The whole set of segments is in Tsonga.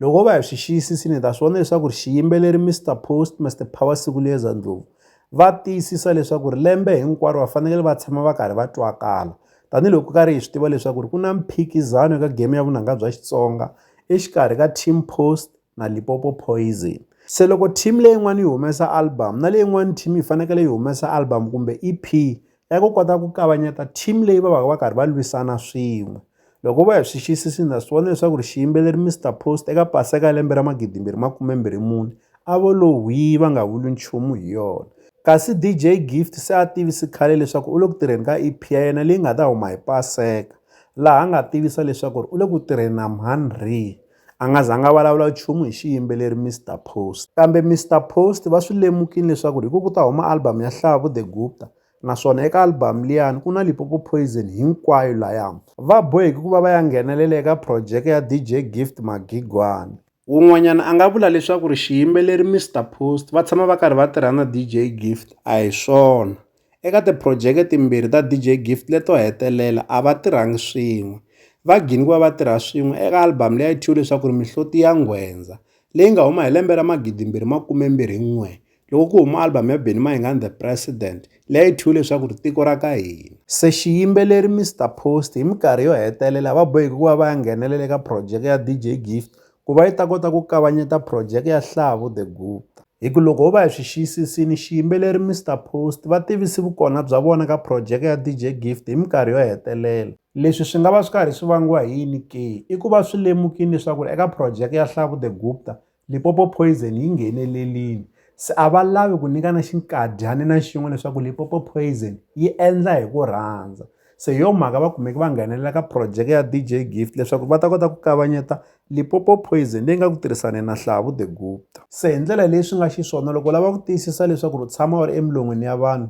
Loko ho va hi swi xiyisisile hi ta swi vona leswaku ri xiyimbeleri Mister Post Mister Power Sikuleza Ndlovu va tiyisisa leswaku ri lembe hinkwaro va fanekele va tshama va karhi va twakala tanihiloko ku karhi hi swi tiva leswaku ri ku na mphikizano eka game ya vunanga bya Xitsonga exikarhi ka Team Post na Limpopo Poison se loko team leyin'wana yi humesa album na leyin'wana team yi fanekele yi humesa album kumbe E_P ya ku kota ku kavanyeta team leyi va va va karhi va lwisana swin'we loko va hi swi xiyisisi na swi vona leswaku ri xiyimbeleri Mister Post eka paseka ya lembe ra magidi mbirhi makume mbirhi mune a vo lo hwii va nga vuli nchumu hi yona kasi DJ Gift se a tivisi khale leswaku u le ku tirheni ka EP ya yena leyi nga ta huma hi paseka laha a nga tivisa leswaku ri u le ku tirheni na Mhanree A nga zanga a vulavula nchumu hi xiyimbeleri Mister Post. Kambe Mister Post va swi lemukile leswaku hi ku ku ta huma album ya Hlavu The Gupta naswona eka album liyani ku na Lipopo Poison hinkwayo laya va boheki ku va va ya nghenelela eka projeke ya DJ Gift Magigwani. Wun'wanyana a nga vula leswaku ri xiyimbeleri Mister Post va tshama va karhi va tirha na DJ Gift a hi swona. Eka tiphurojeke timbirhi ta DJ Gift leto hetelela, a va tirhangi swin'we. Va gine ku va va tirha swin'we eka albhamu leyi a yi thyiwe leswaku ri Mihloti ya Nghwendza, leyi nga huma hi lembe ra 2021 loko ku huma albhamu ya Benny Mayengani The President leyi a yi thyiwe leswaku ri Tiko ra ka Hina. Se xiyimbeleri Mister Post hi minkarhi yo hetelela va boheke ku va va ya nghenelela eka phurojeke ya DJ Gift ku va yi ta kota ku kavanyeta phurojeke ya Hlavu The Gupta. Hi ku loko ho va hi swi xiyisisile, xiyimbeleri Mister Post va tivise vukona bya vona ka phurojeke ya DJ Gift hi minkarhi yo hetelela. Leswi swi nga va swi karhi swi vangiwa hi yini ke? I ku va swi lemukile leswaku eka phurojeke ya Hlavu The Gupta, Limpopo Poison yi nghenelerile. Se a va lavi ku nyikana xinkadyana na xin'we leswaku Limpopo Poison yi endla hi ku rhandza. Se hi yo mhaka va kumeke va nghenelela ka projeke ya DJ Gift leswaku va ta kota ku kavanyeta Limpopo Poison leyi nga ku tirhisaneni na Hlavu The Gupta. Se hi ndlela leyi swi nga xiswona loko u lava ku tiyisisa leswaku ri u tshama u ri emilon'wini ya vanhu,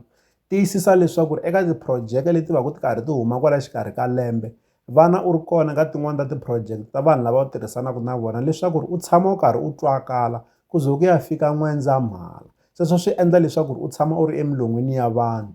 tiyisisa leswaku ri eka tiprojeke leti va ku ti karhi ti huma kwala xikarhi ka lembe vana u ri kona ka tin'wani ta tiprojeke ta vanhu lava u tirhisanaka na vona leswaku ri u tshama u karhi u twakala ku ze ku ya fika N'wendzamhala. Sweswo swi endla leswaku ri u tshama u ri emilon'wini ya vanhu.